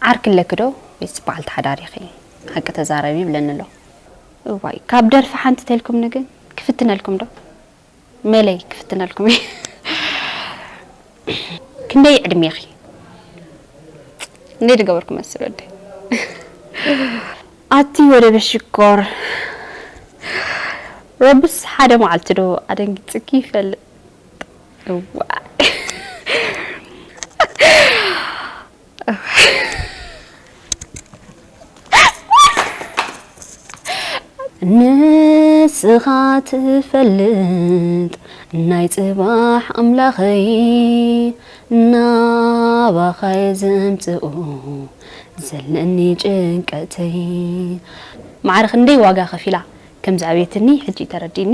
ዓርኪ ኣለኪ ዶ ወይስ በዓልቲ ሓዳር ኢኺ ሓቂ ተዛረቢ ይብለኒ ኣሎ። እዋይ ካብ ደርፊ ሓንቲ ተልኩምኒ ግን ክፍትነልኩም ዶ መለይ ክፍትነልኩም እየ ክንደይ ዕድሜኺ ክንደይ ድገበርኩ መስል ወደይ ኣቲ ወደበ ሽኮር ረብስ ሓደ መዓልቲ ዶ ኣደንጊጽኪ ይፈልጥ። ንስኻ ትፈልጥ ናይ ጽባሕ ኣምላኸይ ናባኻየ ዘምጽኡ ዘለኒ ጭንቀተይ ማዕረ ክንደይ ዋጋ ከፊላ ከም ዝዕበየትኒ ሕጂ ተረዲኒ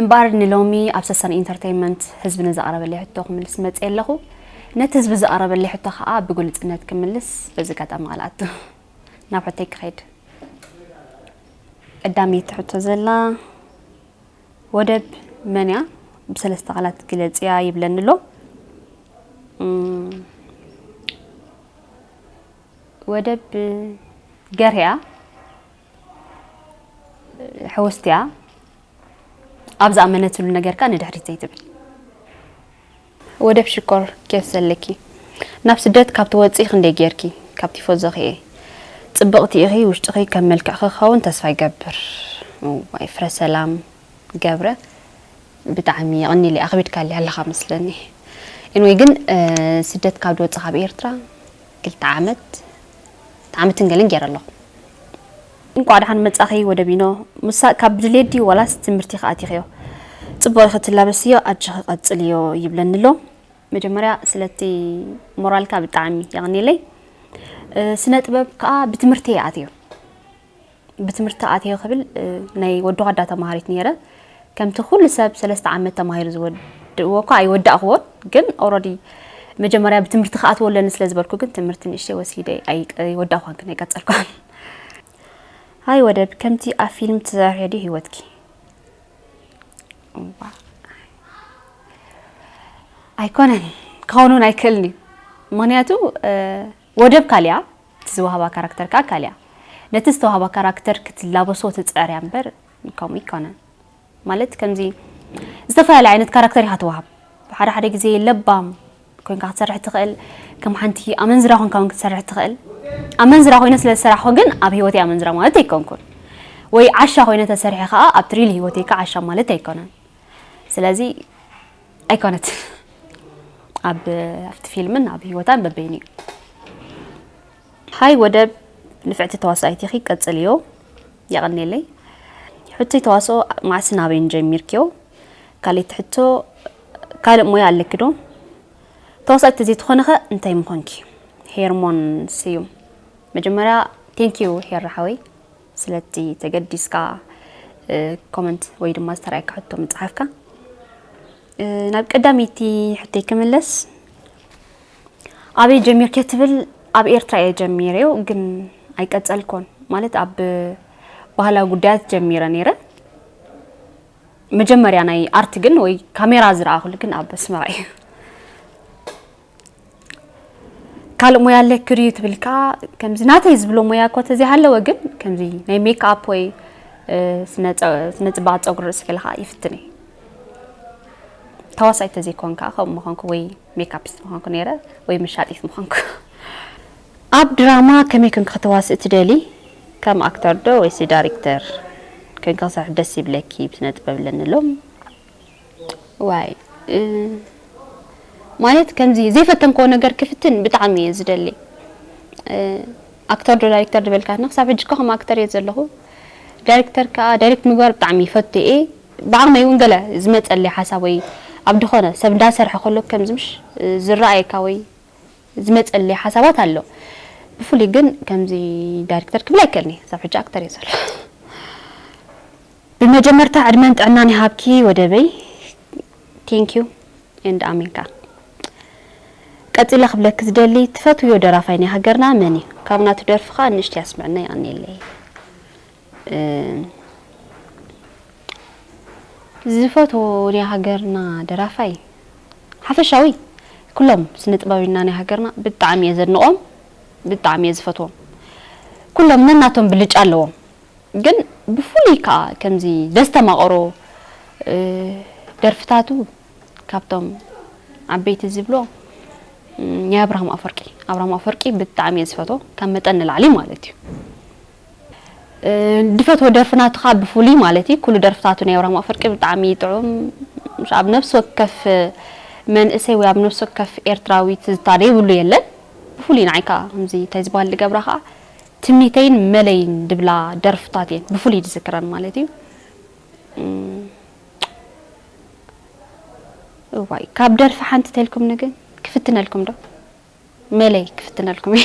እምበኣር ንሎሚ ኣብ ሰሰን ኢንተርተይመንት ህዝቢ ንዘቕረበለይ ሕቶ ክምልስ መጽየ ኣለኹ። ነቲ ህዝቢ ዘቕረበለይ ሕቶ ከኣ ብግሉጽነት ክምልስ በዚ ኣጋጣሚ ቃል እኣቱ። ናብ ሕቶይ ክኸይድ። ቀዳመይቲ ትሕቶ ዘላ ወደብ መን እያ ብሰለስተ ቃላት ግለጽያ ይብለኒ ኣሎ። ወደብ ገርያ ሕውስትያ ኣብ ዝኣመነትሉ ነገርካ ንድሕሪት ዘይትብል ወደብ ሽኮር ኬፍ ዘለኪ ናብ ስደት ካብ ትወፅኢ ክንደይ ጌርኪ ካብ ቲፎዞኺ እየ ፅብቕቲ ኢኺ ውሽጥኺ ከም መልክዕኺ ክኸውን ተስፋ ይገብር ዋይ ፍረ ሰላም ገብረ ብጣዕሚ የቕኒለ ኣኽቢድካልያ ኣለኻ መስለኒ ኢንወይ ግን ስደት ካብ ድወፅእ ካብ ኤርትራ ክልተ ዓመት ዓመትን ገለን ጌረ ኣለኹ። እንቋዕ ደሓን መጻኺ ወደቢኖ ምሳቅ ካብ ድሌት ድዩ ዋላስ ትምህርቲ ኢኺ ኣቲኽዮ ጽቡቅ ኢኺ ትላበስዮ ኣጀኺ ቀጽልዮ ይብለኒ ኣሎ መጀመርያ ስለቲ ሞራልካ ብጣዕሚ የቀኔለይ ስነ ጥበብ ከኣ ብትምህርቲ እየ ኣትዮ ብትምህርቲ ኣትየ ክብል ናይ ወዲ ኳዳ ተማሃሪት ነይረ ከምቲ ኩሉ ሰብ ሰለስተ ዓመት ተማሂሩ ዝወድእዎ እኳ ኣይወዳእክዎን ግን ኦረዲ መጀመርያ ብትምህርቲ ክኣትዎ ኣለኒ ስለ ዝበልኩ ግን ትምህርቲ ንእሽተይ ወሲደ ኣይወዳእኳን ግን ኣይቀጸልኳን ሃይ ወደብ ከምቲ ኣብ ፊልም ትሰርሕዮ ድዩ ህይወትኪ ኣይኮነን ክኸውን እውን ኣይክእልን እዩ ምክንያቱ ወደብ ካልያ፣ እቲ ዝወሃባ ካራክተር ከኣ ካልያ። ነቲ ዝተዋህባ ካራክተር ክትላበሶ ትጽዕርያ እምበር ከምኡ ኣይኮነን። ማለት ከምዚ ዝተፈላለየ ዓይነት ካራክተር ኢኻ ትወሃብ። ሓደ ሓደ ግዜ ለባም ኮንካ ክትሰርሕ ትኽእል፣ ከም ሓንቲ ኣመንዝራ ኮንካ ውን ክትሰርሕ ትኽእል። ኣመንዝራ ኮይነ ስለ ዝሰራሕኩ ግን ኣብ ህይወተይ ኣመንዝራ ማለት ኣይኮንኩን። ወይ ዓሻ ኮይነ ተሰሪሐ ከኣ ኣብቲ ሪል ህይወተይ ከኣ ዓሻ ማለት ኣይኮነን። ስለዚ ኣይኮነትን ኣብ ኣብቲ ፊልምን ኣብ ህይወታን በበይኑ እዩ ሃይ ወደብ ንፍዕቲ ተዋሳኢት ኢኺ ቀጽልዮ የቐኔለይ ሕቶይ ተዋስኦ መዓስን ኣበይን ጀሚርክዮ ካልእቲ ሕቶ ካልእ ሞያ ኣለኪ ዶ ተዋሳኢት ተዘይትኾንኸ እንታይ ምኾንኪ ሄርሞን ስዩም መጀመርያ ቴንኪዩ ሄራ ሓወይ ስለቲ ተገዲስካ ኮመንት ወይ ድማ ዝተራእየካ ሕቶ ምጽሓፍካ ናብ ቀዳመይቲ ሕቶይ ክምለስ ኣበይ ጀሚርኬ ትብል ኣብ ኤርትራ እየ ጀሚረዮ ግን ኣይቀጸልኮን ማለት ኣብ ባህላዊ ጉዳያት ጀሚረ ነይረ መጀመርያ ናይ ኣርት ግን ወይ ካሜራ ዝረኣኹሉ ግን ኣብ ኣስመራ እዩ ካልእ ሞያ ኣለኪ ድዩ ትብል ከዓ ከምዚ ናተይ ዝብሎ ሞያ እኮ ተዘይሃለወ ግን ከምዚ ናይ ሜክኣፕ ወይ ስነ ፅባቅ ፀጉሪ ርእሲ ከለካ ይፍትን እየ ተዋሳኢት ተዘይኮን ከዓ ከምኡ ምኮንኩ ወይ ሜክኣፒስት ምኮንኩ ነይረ ወይ መሻጢት ምኮንኩ ኣብ ድራማ ከመይ ኮንክ ከተዋስእ ትደሊ ከም ኣክተር ዶ ወይሲ ዳይሬክተር ኮንክ ክሰርሕ ደስ ይብለኪ ብስነ ጥበብ ኣለኒ ሎም ዋይ ማለት ከምዚ ዘይፈተንኮ ነገር ክፍትን ብጣዕሚ እየ ዝደሊ ኣክተር ዶ ዳይሬክተር ዝበልካትና ክሳብ ሕጂ እኳ ከም ኣክተር እየ ዘለኹ ዳይሬክተር ከዓ ዳይሬክት ምግባር ብጣዕሚ ይፈቱ እየ ብዓቕመይ እውን ገለ ዝመፀለይ ሓሳብ ወይ ኣብ ድኾነ ሰብ እንዳሰርሐ ከሎ ከምዚ ምሽ ዝረኣየካ ወይ ዝመፀለይ ሓሳባት ኣሎ ብፍሉይ ግን ከምዚ ዳይሬክተር ክብል ኣይከልኒ ክሳብ ሕጂ ኣክተር እየ ዘሎ ብመጀመርታ ዕድመን ጥዕናን ይሃብኪ ወደበይ Thank you and ኣሜን ከኣ። ቀጺለ ክብለኪ ዝደሊ ትፈትውዮ ደራፋይ ናይ ሃገርና መን እዩ? ካብ ናቱ ደርፊ ከኣ ንእሽተይ ኣስምዕና የቀንየለይ። ዝፈትዎ ናይ ሃገርና ደራፋይ ሓፈሻዊ ኩሎም ስነ ጥበበዩና ናይ ሃገርና ብጣዕሚ እየ ዘድንቆም ብጣዕሚ እየ ዝፈትዎም ኩሎም ነናቶም ብልጫ ኣለዎም። ግን ብፍሉይ ከኣ ከምዚ ዘስተማቕሮ ደርፍታቱ ካብቶም ዓበይቲ ዝብሎ ናይ ኣብርሃም ኣፈርቂ ኣብርሃም ኣፈርቂ ብጣዕሚ እየ ዝፈትዎ ካብ መጠን ንላዕሊ ማለት እዩ ድፈትዎ ደርፊ ናቱ ከዓ ብፍሉይ ማለት እዩ ኩሉ ደርፍታቱ ናይ ኣብርሃም ኣፈርቂ ብጣዕሚ ጥዑም ኣብ ነፍሲ ወከፍ መንእሰይ ወይ ኣብ ነፍሲ ወከፍ ኤርትራዊት ዝታደይ ብሉ የለን ብፍሉይ ንዓይ ከዓ ከምዚ እንታይ ዝበሃል ድገብራ ከዓ ትምኒተይን መለይን ድብላ ደርፍታት እየን ብፍሉይ ዝዝክረን ማለት እዩ። እዋይ ካብ ደርፊ ሓንቲ ተልኩምኒ ግን ክፍትነልኩም ዶ መለይ ክፍትነልኩም እዩ።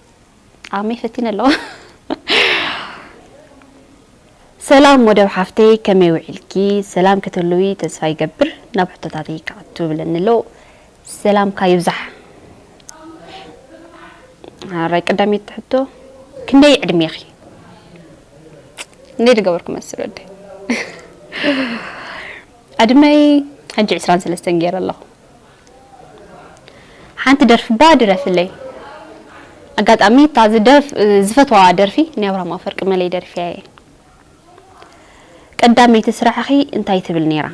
ጣዕመይ ፈቲነ ኣለኹ። ሰላም ወደብ ሓፍተይ ከመይ ውዒልኪ ሰላም ክትህልዊ ተስፋ ይገብር ናብ ሕቶታተይ ክኣቱ ብለኒ ኣሎ ሰላምካ ይብዛሕ ሓራይ ቀዳመይቲ ሕቶ ክንደይ ዕድሜኺ እንዴት ገበርኩ መስል ወደ ዕድመይ ሕጂ ዕስራን ሰለስተን ገይረ ኣለኹ ሓንቲ ደርፊ እባ ድረፍለይ። ኣጋጣሚ እታ ዝደርፍ ዝፈትዋ ደርፊ ናይ ኣብርሃም ኣፈርቂ መለይ ደርፊያ እየ። ቀዳመይቲ ስራሕኺ እንታይ ትብል ነይራ?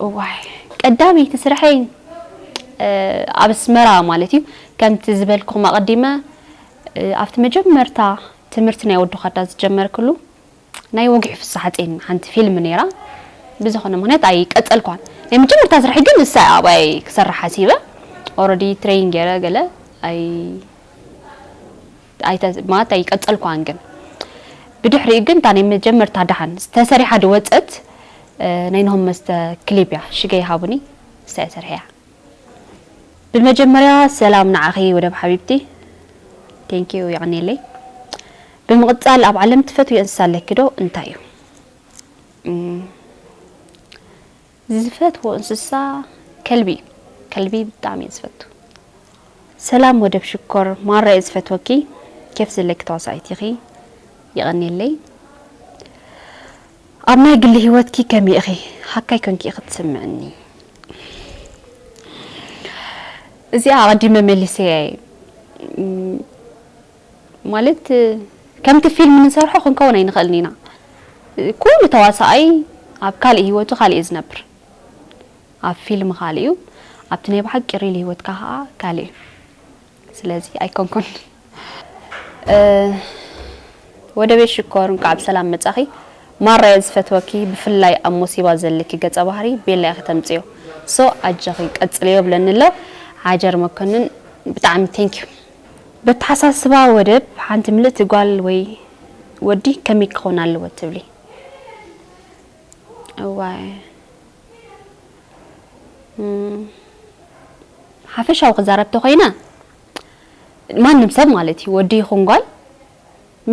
እዋይ ቀዳመይቲ ስራሐይ ኣብ ኣስመራ ማለት እዩ ከምቲ ዝበልኩም ኣቐዲመ ኣብቲ መጀመርታ ትምህርቲ ናይ ወዲ ዃዳ ዝጀመርክሉ ናይ ወግዒ ፍስሓጼን ሓንቲ ፊልም ነይራ ብዝኾነ ምኽንያት ኣይቀጸልክዋን ናይ መጀመርታ ስርሐይ ግን ንሳ እያ ኣባይ ክሰርሕ ሓሲበ ኦረዲ ትሬይን ገይረ ገለ ኣይ ኣይተ ማለት ኣይቀጸልክዋን ግን ብድሕሪኡ ግን እታ ናይ መጀመርታ ደሓን ተሰሪሓ ድወጸት ናይ ነሆም መስተ ክሊፕ እያ ሽገ ይሃቡኒ ንሳ እያ ሰርሐያ ብመጀመርያ ሰላም ንዓኺ ወደብ ሓቢብቲ Thank you የቐንየለይ ብምቕጻል ኣብ ዓለም ትፈትውዮ እንስሳ ኣለኪ ዶ እንታይ እዩ ዝፈትዎ እንስሳ ከልቢ እዩ ከልቢ ብጣዕሚ እየ ዝፈቱ ሰላም ወደብ ሽኮር ማራ እየ ዝፈትወኪ ኬፍ ዘለኪ ተዋሳኢት ኢኺ የቐንየለይ ኣብ ናይ ግሊ ሂወትኪ ከመይ ኢኺ ሃካይ ኮንኪ ኢኺ ትስምዕኒ እዚኣ ኣቐዲመ መሊሰያ እየ ማለት ከምቲ ፊልም ንሰርሖ ክንከውን ኣይንኽእልን ኢና ኩሉ ተዋሳኣይ ኣብ ካልእ ሂወቱ ካልእ እዩ ዝነብር ኣብ ፊልም ካልእ እዩ ኣብቲ ናይ ብሓቂ ሪል ሂወትካ ከኣ ካልእ እዩ ስለዚ ኣይኮንኩን ወደቤት ሽኮር እንቃዕ ብሰላም መጻኺ ማራየ ዝፈትወኪ ብፍላይ ኣብ ሞሲባ ዘለኪ ገጸ ባህሪ ቤላ ኢኺ ተምጽዮ ሶ ኣጀኺ ቀጽልዮ ይብለኒ ኣሎ ዓጀር መኮንን ብጣዕሚ ቴንኪዩ በተሓሳስባ ወደብ ሓንቲ ምልእቲ ጓል ወይ ወዲ ከመይ ክኾን ኣለዎ ትብሊ? እዋይ ሓፈሻዊ ክዛረብ ተኾይነ ማንም ሰብ ማለት እዩ ወዲ ይኹን ጓል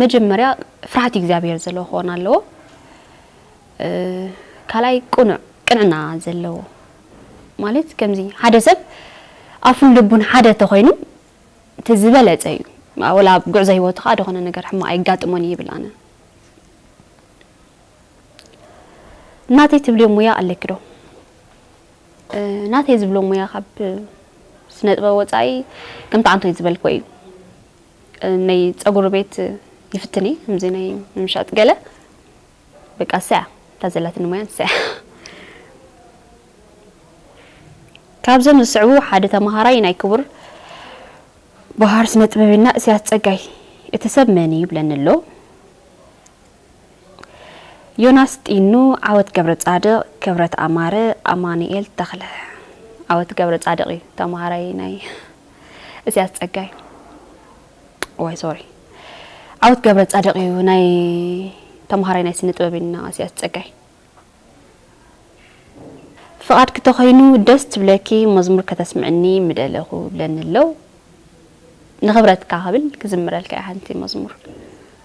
መጀመርያ ፍርሃት እግዚኣብሔር ዘለዎ ክኾን ኣለዎ ካልኣይ ቅኑዕ ቅንዕና ዘለዎ ማለት ከምዚ ሓደ ሰብ ኣፉን ልቡን ሓደ ተኾይኑ እቲ ዝበለፀ እዩ ወላ ኣብ ጉዕዞ ሂወቱ ከዓ ደኾነ ነገር ሕማቅ ኣይጋጥሞን ይብል ኣነ ናተይ ትብልዮ ሙያ ኣለኪ ዶ? ናተይ ዝብሎ ሙያ ካብ ስነጥበብ ወፃኢ ከምቲ ኣንቶይ ዝበልክዎ እዩ ናይ ፀጉሪ ቤት ይፍትን እየ ከምዚ ናይ ምሻጥ ገለ በቃ ንሳ እያ እታ ዘላትኒ ሙያ ንሳ እያ ካብዞም ዝስዕቡ ሓደ ተምሃራይ ናይ ክቡር ባህር ስነጥበበና እስያስ ፀጋይ እቲ ሰብ መን እዩ ይብለኒ ኣሎ ዮናስ ጢኑ ዓወት ገብረጻድቕ ክብረት ኣማረ ኣማኑኤል ተኽለ። ዓወት ገብረጻድቕ እዩ ተማሃራይ ናይ እስያስ ጸጋይ ዋይ ሶሪ ዓወት ገብረጻድቕ እዩ ናይ ተማሃራይ ናይ ስነ ጥበብና እስያስ ጸጋይ ፍቓድ ክተኾይኑ ደስ ትብለኪ መዝሙር ከተስምዕኒ ምደለኹ ብለኒ ኣለው ንኽብረትካ ክብል ክዝምረልካ እየ ሓንቲ መዝሙር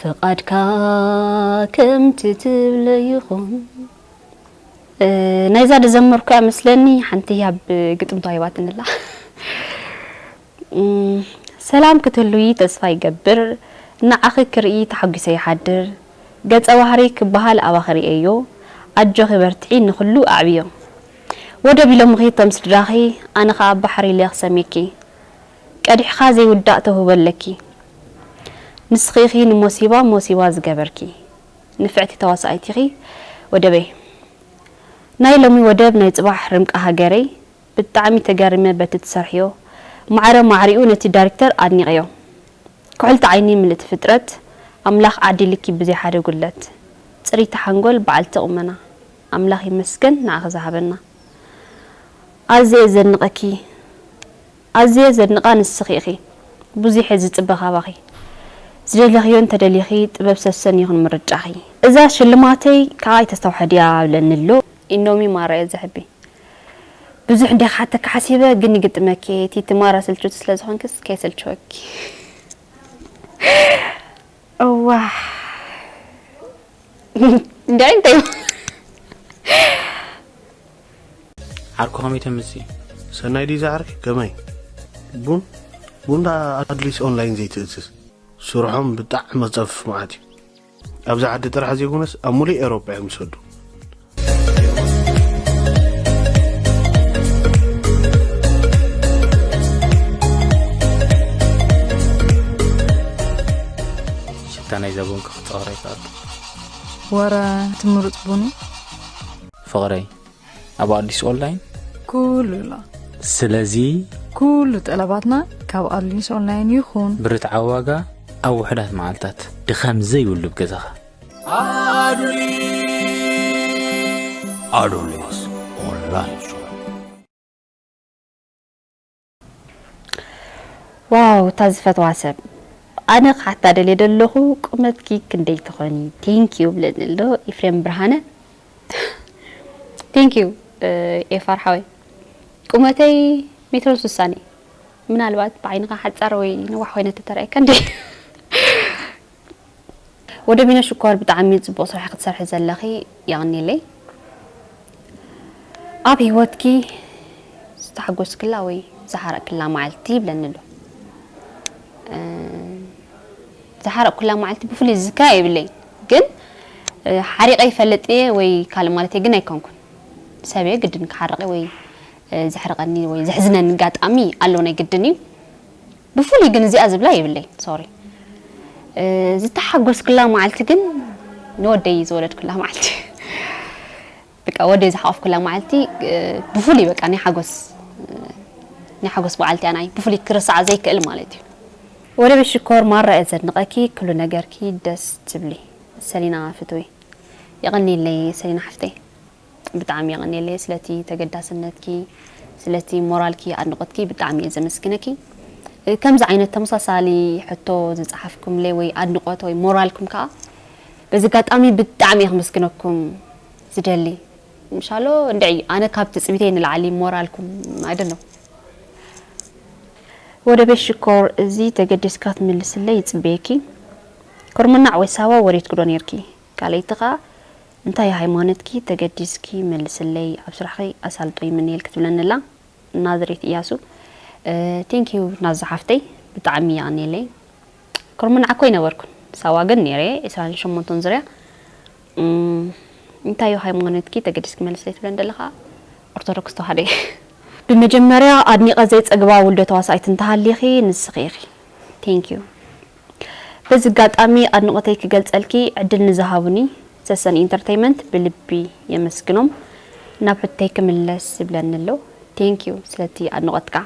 ፍቃድካ ከምቲ ትብሎ ይኹን። ናይዛ ዝዘመርኩ እያ መስለኒ ሓንቲ ህያብ ግጥም ተዋሂባትኒ ኣላ ሰላም ክትህልዊ ተስፋ ይገብር ንዓኺ ክርኢ ተሓጒሰ ይሓድር ገጸ ባህሪ ክበሃል ኣባኺ ርእየዮ ኣጆኺ በርትዒ ንኹሉ ኣዕብዮ ወደብ ኢሎምኺ እቶም ስድራኺ ኣነ ከኣ ባሕሪ ኢለ ክሰምየኪ ቀዲሕኻ ዘይውዳእ ተውህቦ ኣለኪ ንስኺ ኢኺ ንሞሲባ ሞሲባ ዝገበርኪ ንፍዕቲ ተዋሳኢት ኢኺ ወደበይ ናይ ሎሚ ወደብ ናይ ጽባሕ ርምቃ ሃገረይ ብጣዕሚ ተገሪመ በቲ ትሰርሕዮ ማዕረ ማዕሪኡ ነቲ ዳሪክተር ኣድኒቀዮ ኩሕልቲ ዓይኒ ምልእቲ ፍጥረት ኣምላኽ ዓዲልኪ ብዘይ ሓደ ጉድለት ጽሪቲ ሓንጎል በዓልቲ ቁመና ኣምላኽ ይመስገን ንዓኺ ዝሃበና ኣዝየ ዘድንቀኪ ኣዝየ ዘድንቃ ንስኺ ኢኺ ቡዚሐ ዝጽበ ካባኺ ዝደለኽዮ እንተ ደሊኺ ጥበብ ሰሰን ይኹን ምርጫኺ። እዛ ሽልማተይ ክኣ ኣይተስተውሐ ድያ ኣብለኒ ኣሎ። ኢኖሚ ማራ እየ ዘሕቢ ብዙሕ እንድየ ክሓተኪ ሓሲበ ግን ይግጥመኪ እየ ቲቲ ማራ ስልችውቲ ስለዝኮንኪስ ከይሰልቸወኪ። እዋይ እንድዒ እንታይ እዩ ዓርኩ ከመይ ተምሲ ሰናይ ድዩ ዝዓርኪ ከመይ ቡን ቡን ዳ ኣድሊስ ኦንላይን ዘይትእዝዝ ስርሖም ብጣዕሚ መፀፍፍ መዓት እዩ ኣብዚ ዓዲ ጥራሕ ዘይኮነስ ኣብ ሙሉእ ኤሮጳ እዮም ዝሰዱ ሽታ ናይ ዘቡን ክክፀወረ ይከኣሉ ወረ ትምሩፅ ቡኑ ፍቕረይ ኣብ ኣዲስ ኦንላይን ኩሉ ኣሎ ስለዚ ኩሉ ጠለባትና ካብ ኣዲስ ኦንላይን ይኹን ብርትዓዊ ዋጋ ኣብ ውሕዳት መዓልታት ድኻም ዘይብሉ ብ ገዛኻ ኣዶሌስ ኦንላይን ሾው ዋው እታ ዝፈትዋ ሰብ ኣነ ክሓታ ደልየ ደለኹ ቁመትኪ ክንደይ ትኾኒ ቴንክ ዩ ብለኒ ኣሎ ኤፍሬም ብርሃነ ቴንክ ዩ ኤፋር ሓወይ ቁመተይ ሜትሮን ስሳን እዩ ምናልባት ብዓይንኻ ሓፃር ወይ ነዋሕ ኮይነ ተተረኣየካ እንዲ ወደቢኖ ሽኮር ብጣዕሚ ጽቡቅ ስራሕ ክትሰርሒ ዘለኺ የቅኔለይ ኣብ ሂወትኪ ዝተሓጎስክላ ወይ ዝሓረቅክላ መዓልቲ ይብለኒ ኣሎ ዝሓረቅኩላ መዓልቲ ብፍሉይ ዝዝክራ የብለይ ግን ሓሪቀ ይፈልጥ እየ ወይ ካልእ ማለት ግን ኣይኮንኩን ሰብ እየ ግድን ክሓርቀ ወይ ዘሕርቀኒ ወይ ዘሕዝነኒ ኣጋጣሚ ኣሎ ናይ ግድን እዩ ብፍሉይ ግን እዚኣ ዝብላ የብለይን ሶሪ ዝተሓጎስክላ መዓልቲ ግን ንወደይ ዝወለድኩላ መዓልቲ በቃ ወደይ ዝሓቆፍኩላ መዓልቲ ብፍሉይ በቃ ናይ ሓጎስ ናይ ሓጎስ በዓልቲ እያ ናይ ብፍሉይ ክርሳዓ ዘይክእል ማለት እዩ ወደበይ ሽኮር ማራ እየ ዘድንቀኪ ክሉ ነገርኪ ደስ ትብሊ ሰሊና ፍትውይ የቀንየለይ ሰሊና ሓፍተይ። ብጣዕሚ የቀንየለይ ስለቲ ተገዳስነትኪ ስለቲ ሞራልኪ ኣድንቆትኪ ብጣዕሚ እየ ዘመስግነኪ ከምዚ ዓይነት ተመሳሳሊ ሕቶ ዝጸሓፍኩምለይ ወይ ኣድንቆት ወይ ሞራልኩም ከኣ በዚ ኣጋጣሚ ብጣዕሚ እየ ክምስግነኩም ዝደሊ ምሻሎ እንድዒ ኣነ ካብ ትጽቢተይ ንላዕሊ ሞራልኩም ኣይደኖ ወደቤት ሽኮር እዚ ተገዲስካ ትምልስለይ ይጽበየኪ ኩርምናዕ ወይ ሳዋ ወሪድኪ ዶ ነርኪ ካልኣይቲ ከኣ እንታይ ሃይማኖትኪ ተገዲስኪ መልስለይ ኣብ ስራሕኺ ኣሳልጦ ይምነየልኪ ትብለኒ ኣላ ናዝሬት እያሱ Thank you ናዙ ሓፍተይ ብጣዕሚ የቀንየለይ ክርሙን ዓኮ ኣይነበርኩን ሳዋ ግን ነይረ ዕስራን ሸሞንተን ዙርያ እንታይ እዩ ሃይማኖትኪ ተገዲስኪ መልስለይ ትብለኒ ዘለኻ ኦርቶዶክስ ተዋህዶ ብመጀመርያ ኣድኒቀ ዘይጸግባ ውልዶ ተዋሳኢት እንተሃሊኺ ንስኺ ኢኺ Thank you በዚ ኣጋጣሚ ኣድንቖተይ ክገልጸልኪ ዕድል ንዝሃቡኒ ሰሰን ኢንተርተይመንት ብልቢ የመስግኖም። ናብ ሕቶይ ክምለስ ዝብለኒ ኣሎ። Thank you ስለቲ ኣድንቖትካ።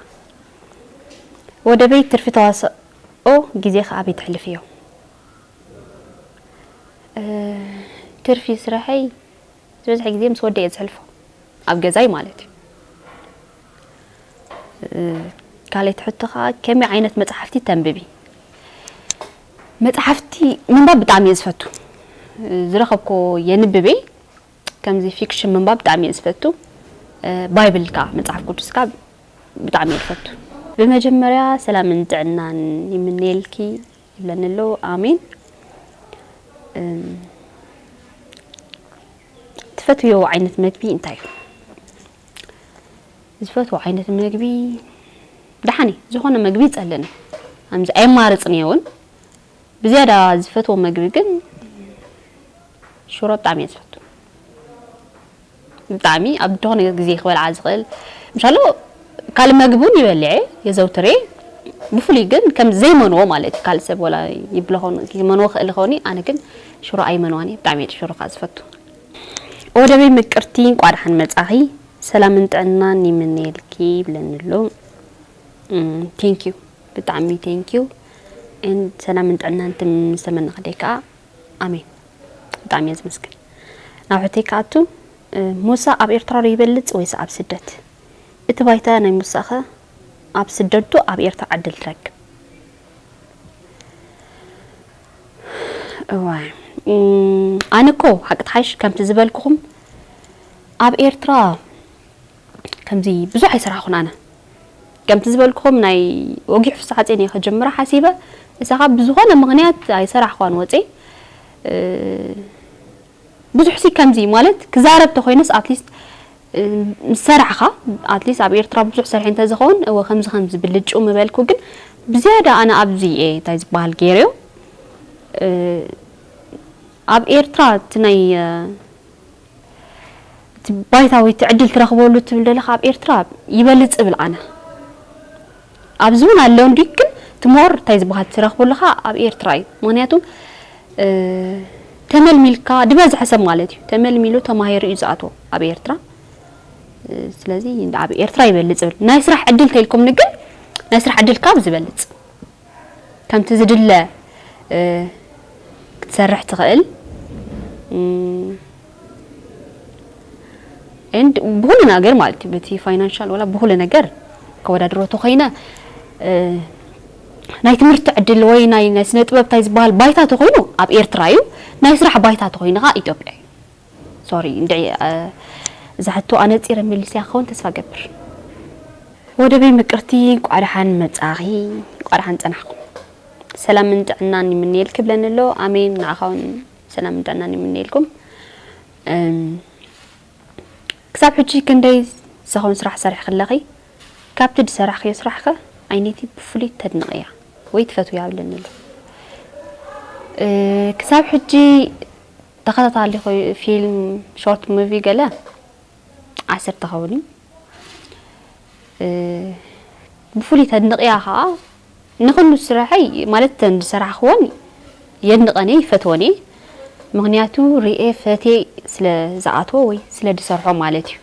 ወደበይ ትርፊ ተዋስኦ ግዜኺ ኣበይ ተሕልፍዮ? ትርፊ ስረሐይ ዝበዝሐ ግዜ ምስ ወደይ እየ ዘሕልፎ ኣብ ገዛይ ማለት እዩ። ካልኣይቲ ሕቶ ከዓ ከመይ ዓይነት መፅሓፍቲ ተንብቢ? መፅሓፍቲ ምንባብ ብጣዕሚ እየ ዝፈቱ ዝረኸብኮ የንብብ እየ ከምዚ ፊክሽን ምንባብ ብጣዕሚ እየ ዝፈቱ ባይብል ከዓ መፅሓፍ ቅዱስ ከዓ ብጣዕሚ እየ ዝፈቱ ብመጀመርያ ሰላምን ጥዕናን ይምነየልኪ ይብለኒ ኣሎ ኣሜን ትፈትውዮ ዓይነት መግቢ እንታይ እዩ ዝፈትዎ ዓይነት መግቢ ደሓን እየ ዝኾነ መግቢ ይጸልእን እየ ኣምዚ ኣየማርጽን እየ እውን ብዝያዳ ዝፈትዎ መግቢ ግን ሽሮ ብጣዕሚ እየ ዝፈቱ ብጣዕሚ ኣብ ዝኾነ ግዜ ክበልዓ ዝኽእል ምሻሎ ካልእ መግቢ እውን ይበልዐ የዘውትር እየ ብፍሉይ ግን ከም ዘይመንዎ ማለት እዩ ካልእ ሰብ ወላ ይብሎ ኾኑ ይመንዎ ክእል ኾኒ ኣነ ግን ሽሮ ኣይመንዋን እየ ብጣዕሚ እየ ሽሮ ከዓ ዝፈቱ ወደበይ ምቅርቲ እንቋ ድሓን መጻኺ ሰላምን ጥዕናን ይምነየልኪ ይብለኒ ኣሎ ቴንክ ዩ ብጣዕሚ ቴንክ ዩ ሰላምን ጥዕናን ምስ ተመነኽደይ ከዓ ኣሜን ብጣዕሚ እየ ዝመስግን ናብ ሕተይ ክኣቱ ሙሳ ኣብ ኤርትራ ዶ ይበልጽ ወይስ ኣብ ስደት እቲ ባይታ ናይ ሙሳኸ ኣብ ስደት ዶ ኣብ ኤርትራ ዕድል ትረክብ እወ ኣነ እኮ ሓቂ ትሓይሽ ከምቲ ዝበልኩኹም ኣብ ኤርትራ ከምዚ ብዙሕ ኣይሰራሕኹን ኣነ ከምቲ ዝበልኩኹም ናይ ወጊሕ ፍስሓጼን እየ ክጅምራ ሓሲበ እሳኻ ብዝኾነ ምኽንያት ኣይሰራሕኳን ወጼ ብዙሕሲ ከምዚ ማለት ክዛረብ ተኾይነስ ኣትሊስት ምሰራሕኻ ኣትሊስት ኣብ ኤርትራ ብዙሕ ሰርሐ እንተዝኸውን እወ ከምዚ ከምዚ ብልጭው ምበልኩ ግን ብዝያዳ ኣነ ኣብዚ እየ እንታይ ዝበሃል ገይረዮ ኣብ ኤርትራ እቲ ናይ እቲ ባይታ ወይ እቲ ዕድል ትረኽበሉ ትብል ዘለኻ ኣብ ኤርትራ ይበልጽ እብል ኣነ። ኣብዚ ውን ኣሎ እንድዩ ግን እቲ ሞር እንታይ ዝባሃል ትረክበሉ ከኣ ኣብ ኤርትራ እዩ ምክንያቱ ተመልሚልካ ድበዝሐ ሰብ ማለት እዩ ተመልሚሉ ተማሂሩ እዩ ዝኣትዎ ኣብ ኤርትራ ስለዚ ኣብ ኤርትራ ይበልጽ ብል ናይ ስራሕ ዕድል እንተልኩም ግን ናይ ስራሕ ዕድል ካብ ዝበልጽ ከምቲ ዝድለ ክትሰርሕ ትኽእል ኤንድ ብኹሉ ነገር ማለት እዩ በቲ ፋይናንሻል ወላ ብኹሉ ነገር ከወዳድሮ ተኾይነ ናይ ትምህርቲ ዕድል ወይ ናይ ናይ ስነ ጥበብ እንታይ ዝበሃል ባይታ ተኾይኑ ኣብ ኤርትራ እዩ ናይ ስራሕ ባይታ ተኾይኑ ከዓ ኢትዮጵያ እዩ ሶሪ እንድዒ እዛ ሕቶ ኣነፂረ መሊስያ ክኸውን ተስፋ ገብር ወደበይ ምቅርቲ እንቋዕ ደሓን መጻኺ እንቋዕ ደሓን ጸናሕኩም ሰላምን ጥዕናን ይምንየልኪ ብለኒ ኣሎ ኣሜን ንዓኻውን ሰላምን ጥዕናን ይምነየልኩም ክሳብ ሕጂ ክንደይ ዝኸውን ስራሕ ሰሪሕኺ ኣለኺ ካብቲ ዝሰራሕክዮ ስራሕ ከ ኣይነይቲ ብፍሉይ ተድንቕያ ወይ ትፈትውያ ኣብለኒ ኣሎ ክሳብ ሕጂ ተኸታታሊ ፊልም ሾርት ሙቪ ገለ ዓሰርተ ኸውን እዩ ብፍሉይ ተድንቕያ ከኣ ንኹሉ ስራሐይ ማለት እተን ዝሰራሕክወን የድንቐን እየ ይፈትወን እየ ምክንያቱ ርኤ ፈቴ ስለ ዝኣትዎ ወይ ስለ ዝሰርሖ ማለት እዩ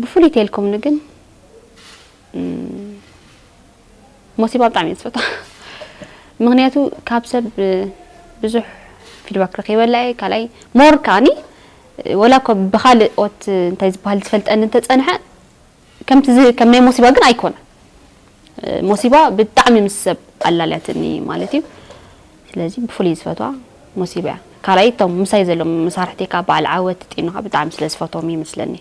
ብፍሉይ ተልኩምኒ ግን ሞሲባ ብጣዕሚ እየ ዝፈትዋ ምክንያቱ ካብ ሰብ ብዙሕ ፊድባክ ረኪበላ እየ ካልኣይ ሞር ከዓኒ ወላ እኮ ብካልእ ኦት እንታይ ዝበሃል ዝፈልጠኒ እንተፀንሐ ከምቲ ከም ናይ ሞሲባ ግን ኣይኮነ ሞሲባ ብጣዕሚ ምስ ሰብ ኣላልያትኒ ማለት እዩ ስለዚ ብፍሉይ ዝፈትዋ ሞሲባ እያ ካልኣይ እቶም ምሳይ ዘሎም መሳርሕተይ ከዓ በዓል ዓወት ጢኑካ ብጣዕሚ ስለ ዝፈትዎም ይመስለኒ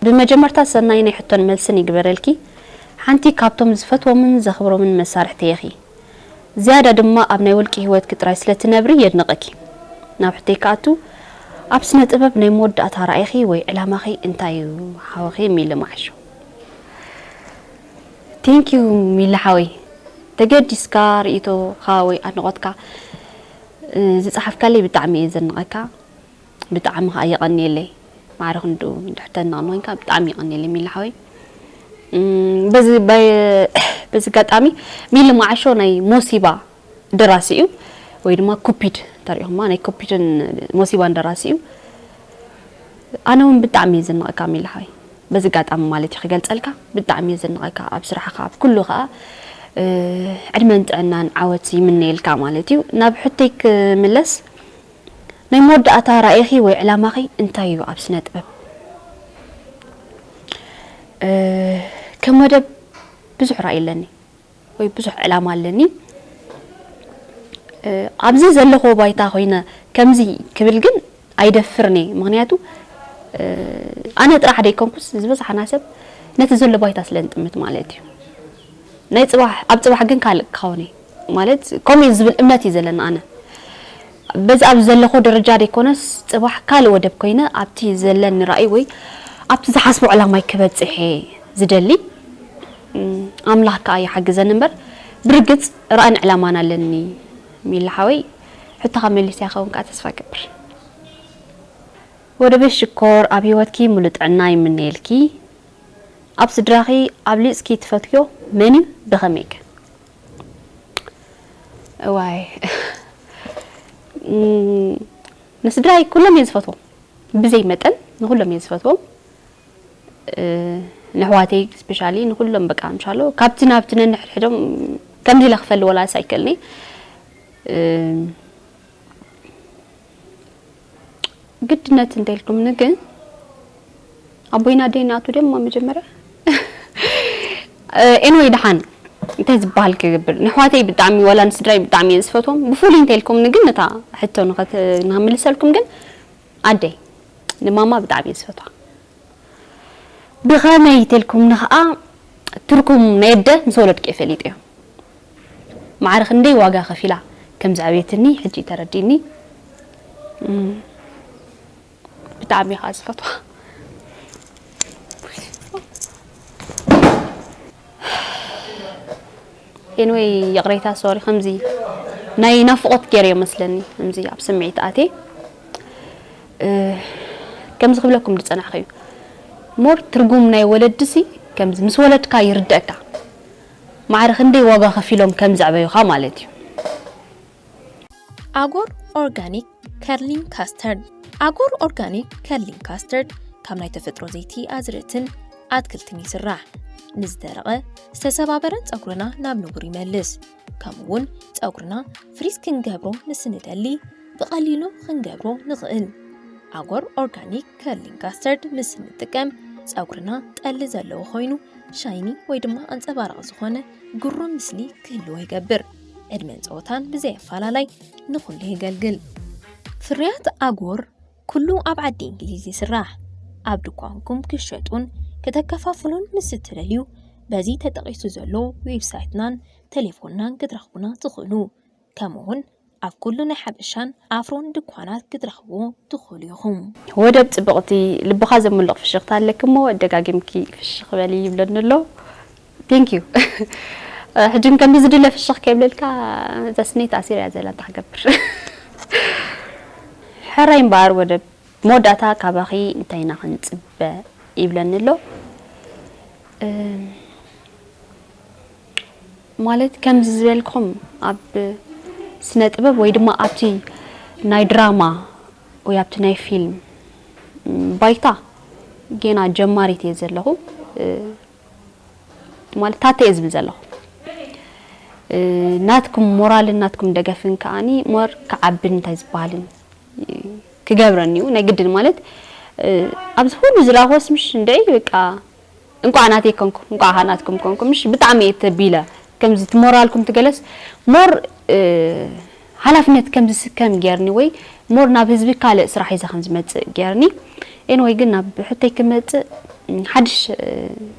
ብመጀመርታ ሰናይ ናይ ሕቶን መልስን ይግበረልኪ ሓንቲ ካብቶም ዝፈትዎምን ዘኽብሮምን መሳርሕተይ ኢኺ ዝያዳ ድማ ኣብ ናይ ውልቂ ሂወትኪ ጥራይ ስለ ትነብሪ የድንቐኪ ናብ ሕቶይ ክኣቱ ኣብ ስነ ጥበብ ናይ መወዳእታ ራኢኺ ወይ ዕላማኺ እንታይ እዩ ሓውኺ ሚሊ ማዓሾ። Thank you ሚሊ ሓወይ ተገዲስካ ሪኢቶኻ ወይ ኣድንቖትካ ዝጸሓፍካለይ ብጣዕሚ እየ ዘድንቐካ። ብጣዕሚ ከኣ የቀንየለይ ማዕረ ክንድኡ እንድሕር ተድንቀኒ ኮንካ ብጣዕሚ የቀንየለይ ሚሊ ሓወይ በዚ በዚ ኣጋጣሚ ሚሊ ማዓሾ ናይ ሞሲባ ደራሲ እዩ ወይ ድማ ኩፒድ እንተሪኢኹማ ናይ ኩፒድን ሞሲባን ደራሲ እዩ ኣነ እውን ብጣዕሚ እየ ዝንቀካ ሚሊ ሓወይ በዚ ኣጋጣሚ ማለት እዩ ክገልጸልካ ብጣዕሚ እየ ዝንቀካ ኣብ ስራሕኻ ኣብ ኩሉ ከኣ ዕድመን ጥዕናን ዓወት ይምነየልካ ማለት እዩ ናብ ሕቶይ ክምለስ ናይ መወዳእታ ራኢኺ ወይ ዕላማኺ እንታይ እዩ ኣብ ስነጥበብ? ከም መደብ ብዙሕ ራኢ ኣለኒ ወይ ብዙሕ ዕላማ ኣለኒ። ኣብዚ ዘለኽዎ ባይታ ኮይነ ከምዚ ክብል ግን ኣይደፍርን እየ። ምኽንያቱ ኣነ ጥራሕ ደይኮንኩስ ዝበዝሓና ሰብ ነቲ ዘሎ ባይታ ስለ ንጥምት ማለት እዩ። ናይ ጽባሕ ኣብ ጽባሕ ግን ካልእ ክኸውን እየ ማለት ከምኡ እዩ ዝብል እምነት እዩ ዘለኒ ኣነ። በዚ ኣብዚ ዘለኹ ደረጃ ደይኮነስ ጽባሕ ካልእ ወደብ ኮይነ ኣብቲ ዘለኒ ራእይ ወይ ኣብቲ ዝሓስቦ ዕላማይ ክበጽሕ'የ ዝደሊ። ኣምላኽ ከኣ ይሓግዘኒ እምበር ብርግጽ ራእን ዕላማን ኣለኒ። ሚሊ ሓወይ ሕቶኻ መሊሰ ክኸውን ከኣ ተስፋ እገብር። ወደበይ ሽኮር ኣብ ሂወትኪ ምሉእ ጥዕና ይምነየልኪ ኣብ ስድራኺ ኣብሊጽኪ ትፈትውዮ መንዩ ብኸመይከ? እዋይ ንስድራይ ኩሎም እየ ዝፈትዎም ብዘይ መጠን ንኩሎም እየ ዝፈትዎም ንሕዋተይ ስፔሻሊ ንኩሎም በቃ እንሻሎ ካብቲ ናብቲ ነንሕድሕዶም ከምዚ ኢለ ክፈሊ ወላስ ኣይክእልኒ ግድነት እንተልኩም ንግን ኣቦይና ደይ ናቱ ደማ መጀመርያ ኤንወይ ድሓን እንታይ ዝበሃል ክገብር ንሕዋተይ ብጣዕሚ ዋላ ንስድራይ ብጣዕሚ እየ ዝፈትዎም ብፍሉይ እንተልኩም ንግን እታ ሕቶ ንኸምልሰልኩም ግን ኣደይ ንማማ ብጣዕሚ እየ ዝፈትዋ ብኸመይ ተልኩም ንኸኣ ትርኩም ናይ ኣደ ምስ ወለድኪ ፈሊጥ እዮ ማዕረ ክንደይ ዋጋ ከፊላ ከም ዝዐበየትኒ ሕጂ እዩ ተረዲእኒ ብጣዕሚ እየ ከኣ ዝፈትዋ። Anyway ይቕሬታ ሶሪ ከምዚ ናይ ናፍቖት ገይረዮ መስለኒ ከምዚ ኣብ ስምዒት ኣትየ ከምዚ ክብለኩም ዝጸናሕኩ እዩ ሞር ትርጉም ናይ ወለድሲ ከምዚ ምስ ወለድካ ይርደእካ ማዕረ ክንደይ ዋጋ ከፊሎም ከም ዘዕበዩኻ ማለት እዩ። ኣጎር ኦርጋኒክ ከርሊንግ ካስተርድ ኣጎር ኦርጋኒክ ከርሊንግ ካስተርድ ካብ ናይ ተፈጥሮ ዘይቲ ኣዝርእትን ኣትክልትን ይስራሕ። ንዝደረቐ፣ ዝተሰባበረን ጸጉርና ናብ ንቡር ይመልስ። ከምኡ'ውን ጸጉርና ፍሪዝ ክንገብሮ ምስ እንደሊ፣ ብቐሊሉ ክንገብሮ ንኽእል። ኣጎር ኦርጋኒክ ከርሊንግ ካስተርድ ምስ እንጥቀም ፀጉርና ጠሊ ዘለዎ ኮይኑ ሻይኒ ወይ ድማ ኣንፀባራቕ ዝኾነ ግሩም ምስሊ ክህልዎ ይገብር። ዕድመን ፀወታን ብዘይ ኣፈላላይ ንኹሉ የገልግል። ፍርያት ኣጎር ኩሉ ኣብ ዓዲ እንግሊዝ ይስራሕ። ኣብ ድኳንኩም ክሸጡን ከተከፋፍሉን ምስ እትደልዩ በዚ ተጠቒሱ ዘሎ ዌብሳይትናን ቴሌፎንናን ክትረኽቡና ትኽእሉ። ከምኡ ውን ኣብ ኩሉ ናይ ሓበሻን ኣፍሮን ድኳናት ክትረኽብዎ ትኽእሉ ኢኹም። ወደብ ጽብቕቲ ልብኻ ዘሙልቕ ፍሽኽታ ኣለኪ እሞ ደጋጊምኪ ፍሽኽ በሊ ይብለኒ ኣሎ Thank you ሕጂ ግን ከምዚ ዝድለ ፍሽኽ ከይብለልካ እዛ ስነይ ተኣሲራ እያ ዘላ እንታይ ክገብር ሕራይ እምበኣር ወደብ መወዳእታ ካባኺ እንታይ ኢና ክንጽበ ይብለኒ ኣሎ ማለት ከምዚ ዝበልኩም ኣብ ስነ ጥበብ ወይ ድማ ኣብቲ ናይ ድራማ ወይ ኣብቲ ናይ ፊልም ባይታ ጌና ጀማሪት እየ ዘለኹ ማለት ታተ እየ ዝብል ዘለኹ ናትኩም ሞራልን ናትኩም ደገፍን ከዓኒ ሞር ክዓብን እንታይ ዝበሃልን ክገብረን እዩ ናይ ግድን ማለት ኣብዚ ኩሉ ዝረኣኹስ ምሽ እንድዒ በቃ እንቋዕ ናተይ ኮንኩም እንቋዕ ከኣ ናትኩም ኮንኩም እሺ ብጣዕሚ እየ ተቢለ ከምዚ እቲ ሞራልኩም ትገለስ ሞር ሓላፍነት ከም ዝስከም ጌርኒ ወይ ሞር ናብ ህዝቢ ካልእ ስራሕ ሒዘ ከም ዝመጽእ ጌርኒ ኤንወይ ግን ናብ ሕቶይ ክመጽእ ሓድሽ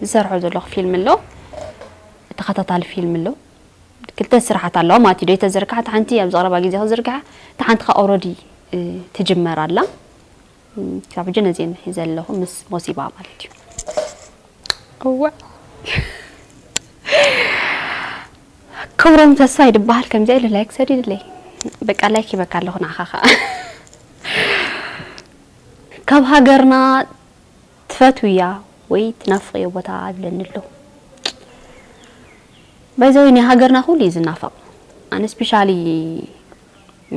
ዝሰርሖ ዘለኹ ፊልም ኣሎ ተኸታታሊ ፊልም ኣሎ ክልተ ስራሓት ኣለዋ ማለት እዩ ዘይተዘርግሓ እቲ ሓንቲ ኣብ ዝቐረባ ግዜ ክዝርግሓ እቲ ሓንቲ ከ ኦልረዲ ትጅመር ኣላ ክሳብ ሕጂ ነዚ እየ ዘለኹ ምስ ሞሲባ ማለት እዩ እዋእ ክብሮም ተስፋይ ድበሃል ከምዚኣ ኢሉ ላይክ ሰዲድለይ በቃ ላይክ ይበካ ኣለኹ ንዓኻ ከዓ ካብ ሃገርና ትፈትውያ ወይ ትናፍቕዮ ቦታ ኣብለኒ ኣሎ ባይዘወይ ናይ ሃገርና ኩሉ እዩ ዝናፈቕ ኣነ ስፔሻሊ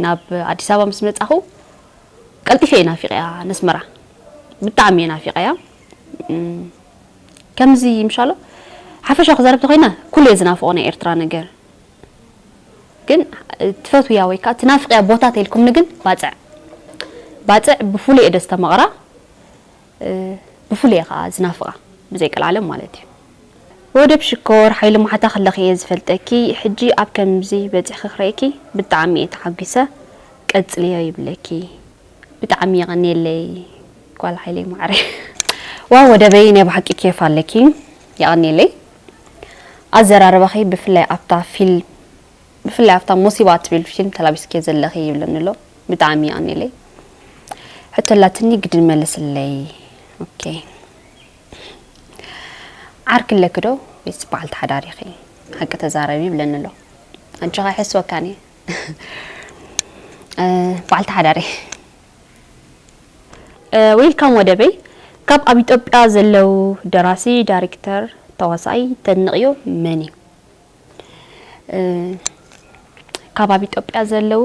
ናብ ኣዲስ ኣበባ ምስ መጻኹ ቀልጢፈ እየ ናፊቐያ ነስመራ ብጣዕሚ እየ ናፊቐያ ከምዚ ምሻሎ ሓፈሻዊ ክዛረብ ተኮይነ ኩሉ እየ ዝናፍቆ ናይ ኤርትራ ነገር ግን ትፈትውያ ወይ ከዓ ትናፍቅያ ቦታ ተልኩምኒ ግን ባፅዕ ባፅዕ ብፍሉይ እየ ደስ ተመቕራ ብፍሉይ እየ ከኣ ዝናፍቓ ብዘይ ቀልዓለም ማለት እዩ። ወደብ ሽኮር ሓይሊ ማሕታ ከለኺ እየ ዝፈልጠኪ ሕጂ ኣብ ከምዚ በጺሕኺ ክርእየኪ ብጣዕሚ እየ ተሓጒሰ ቀጽልዮ ይብለኪ ብጣዕሚ የቐንየለይ ጓል ሓይለይ ማዓረይ። ዋው ወደበይ ናይ ብሓቂ ኬፍ ኣለኪ የቀንየለይ ኣዘራርባኺ ብፍላይ ኣብታ ፊልም ብፍላይ ኣብታ ሞሲባ ትብል ፊልም ተላቢስክዮ ዘለኺ ይብለኒ ኣሎ ብጣዕሚ ይቀንየለይ ሕቶ ኣላትኒ ግድን መልስለይ ኦኬ ዓርኪ ኣለኪ ዶ ወይስ በዓልቲ ሓዳር ኢኺ ሓቂ ተዛረቢ ይብለኒ ኣሎ ኣጆኻ ይሕስወካን እየ በዓልቲ ሓዳር እየ ዌልካም ወደበይ ካብ ኣብ ኢትዮጵያ ዘለው ደራሲ ዳይሬክተር ተዋሳኣይ ተድንቕዮ መን እዩ ካብ ኣብ ኢትዮጵያ ዘለው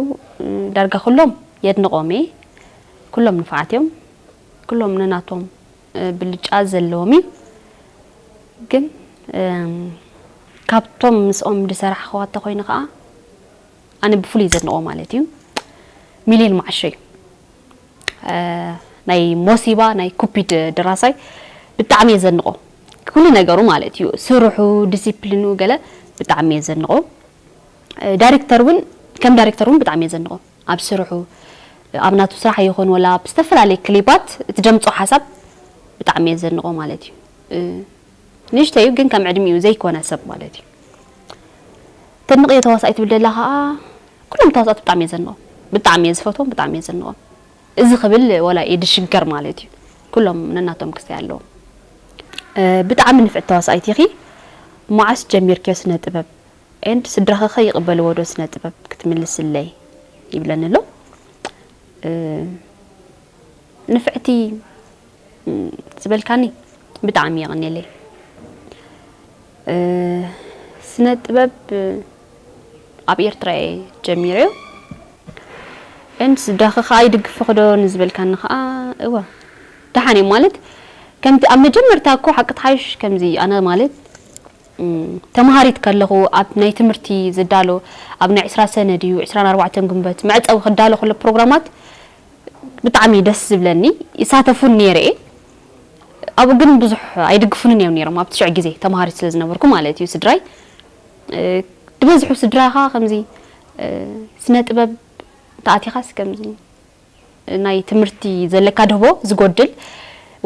ዳርጋ ኩሎም የድንቖም እየ ኩሎም ንፋዓት እዮም ኩሎም ነናቶም ብልጫ ዘለዎም እዩ ግን ካብቶም ምስኦም ዝሰራሕኽዋ እንተኮይኑ ከዓ ኣነ ብፍሉይ ዘድንቖ ማለት እዩ ሚሊዮን ማዓሾ እዩ ናይ ሞሲባ ናይ ኩፒድ ድራሳይ ብጣዕሚ እየ ዘንቆ ኩሉ ነገሩ ማለት እዩ ስርሑ ዲሲፕሊኑ ገለ ብጣዕሚ እየ ዘንቆ ዳይሬክተር እውን ከም ዳይሬክተር እውን ብጣዕሚ እየ ዘንቆ ኣብ ስርሑ ኣብ ናቱ ስራሕ ይኹን ወላ ኣብ ዝተፈላለየ ክሊፓት እቲ ደምፆ ሓሳብ ብጣዕሚ እየ ዘንቆ ማለት እዩ ንእሽተይ እዩ ግን ከም ዕድሚኡ ዘይኮነ ሰብ ማለት እዩ ተድንቅዮ ተዋሳኣይ ትብል ደላ ከኣ ኩሎም ተዋሳእቲ ብጣዕሚ እየ ዘድንቆም ብጣዕሚ እየ ዝፈትዎም ብጣዕሚ እየ ዘድንቆም እዚ ክብል ወላ እየ ድሽገር ማለት እዩ ኩሎም ነናቶም ክስተይ ኣለዎም ብጣዕሚ ንፍዕቲ ተዋሳኣይት ኢኺ መዓስ ጀሚርክዮ ስነ ጥበብ ኤንድ ስድራኺ ከ ይቅበልዎ ዶ ስነ ጥበብ ክትምልስለይ ይብለኒ ኣሎ ንፍዕቲ ዝበልካኒ ብጣዕሚ የቐኔለይ። ስነ ጥበብ ኣብ ኤርትራ እየ ጀሚረ እን ስድራኺ ከኣ ይድግፍኺ ዶ ንዝበልካኒ ከኣ እወ ደሓን እዮም ማለት ከምቲ ኣብ መጀመርታ እኮ ሓቂ ትሓይሽ ከምዚ ኣነ ማለት ተምሃሪት ከለኹ ኣብ ናይ ትምህርቲ ዝዳሎ ኣብ ናይ ዕስራ ሰነ ድዩ ዕስራን ኣርባዕተን ግንቦት መዕጸዊ ክዳሎ ከሎ ፕሮግራማት ብጣዕሚ እዩ ደስ ዝብለኒ ይሳተፉን ኔረ እየ ኣብኡ ግን ብዙሕ ኣይድግፉንን እዮም ኔሮም ኣብቲ ሽዕ ግዜ ተማሃሪት ስለ ዝነበርኩ ማለት እዩ ስድራይ ድበዝሑ ስድራይ ከኣ ከምዚ ስነ ጥበብ እንተኣቲኻስ ከምዚ ናይ ትምህርቲ ዘለካ ድህቦ ዝጎድል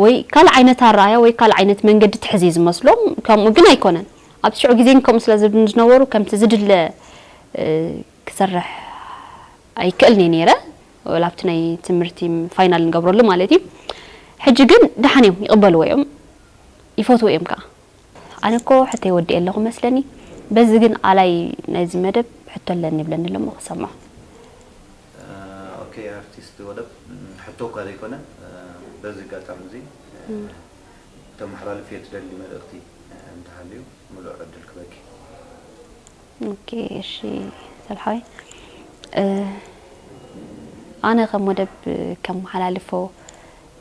ወይ ካልእ ዓይነት ኣረኣያ ወይ ካልእ ዓይነት መንገዲ ትሕዝ እዩ ዝመስሎም ከምኡ ግን ኣይኮነን ኣብቲ ሽዑ ግዜ ግን ከምኡ ስለ ዝብሉኒ ዝነበሩ ከምቲ ዝድለ ክሰርሕ ኣይክእልን እየ ነይረ ወላ ኣብቲ ናይ ትምህርቲ ፋይናል ንገብረሉ ማለት እዩ ሕጂ ግን ደሓን እዮም ይቕበልዎ እዮም ይፈትዎ እዮም ከኣ። ኣነ እኮ ሕቶይ ወዲኤ ኣለኹ መስለኒ በዚ ግን ኣላይ ናይዚ መደብ ሕቶ ኣለኒ ይብለኒ ኣሎ እሞ ክሰምዖ። ኦኬ ኣርቲስት ወደብ ሕቶ እኳ ዘይኮነ በዚ ኣጋጣሚ እዚ ክተመሓላልፍዮ ትደሊ መልእኽቲ እንተሃልዩ ምሉእ ዕድል ክበኪ። ኦኬ እሺ ሰብሓይ ኣነ ከም ወደብ ከመሓላልፎ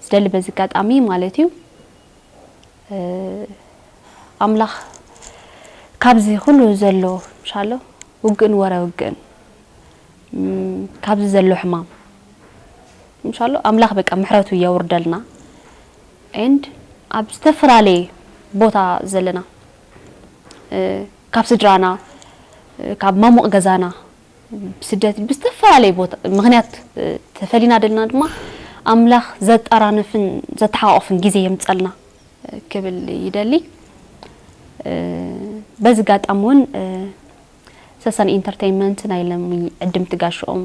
ዝደሊ በዚ ኣጋጣሚ ማለት እዩ ኣምላኽ ካብዚ ኩሉ ዘሎ ምሻሎ ውግእን ወረ ውግእን ካብዚ ዘሎ ሕማም ምሻሎ ኣምላኽ በቃ ምሕረቱ የውርደልና ኤንድ ኣብ ዝተፈላለየ ቦታ ዘለና ካብ ስድራና ካብ ማሙቕ ገዛና ብስደት ብዝተፈላለየ ቦታ ምኽንያት ተፈሊና ደለና ድማ ኣምላኽ ዘጣራንፍን ዘተሓቋቑፍን ግዜ የምጸልና ክብል ይደሊ በዚ ጋጣሚ ውን ሰሰን ኢንተርተይመንት ናይ ለሚ ዕድምቲ ጋሽኦም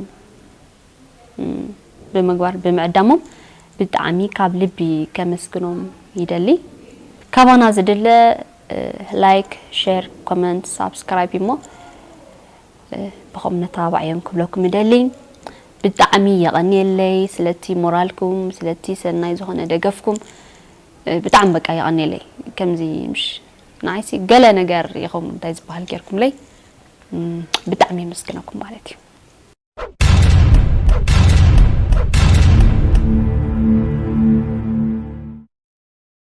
ብምግባር ብምዕዳሞም ብጣዕሚ ካብ ልቢ ከመስግኖም ይደሊ ካባና ዝድለ ላይክ ሸር ኮመንት ሳብስክራይብ እዩሞ ብኸም ነተባባዕዮም ክብለኩም እደሊ ብጣዕሚ የቐንየለይ ስለቲ ሞራልኩም ስለቲ ሰናይ ዝኾነ ደገፍኩም ብጣዕሚ በቃ የቐንየለይ ከምዚ ምሽ ንዓይሲ ገለ ነገር ኢኹም እንታይ ዝበሃል ጌርኩምለይ ብጣዕሚ የመስግነኩም ማለት እዩ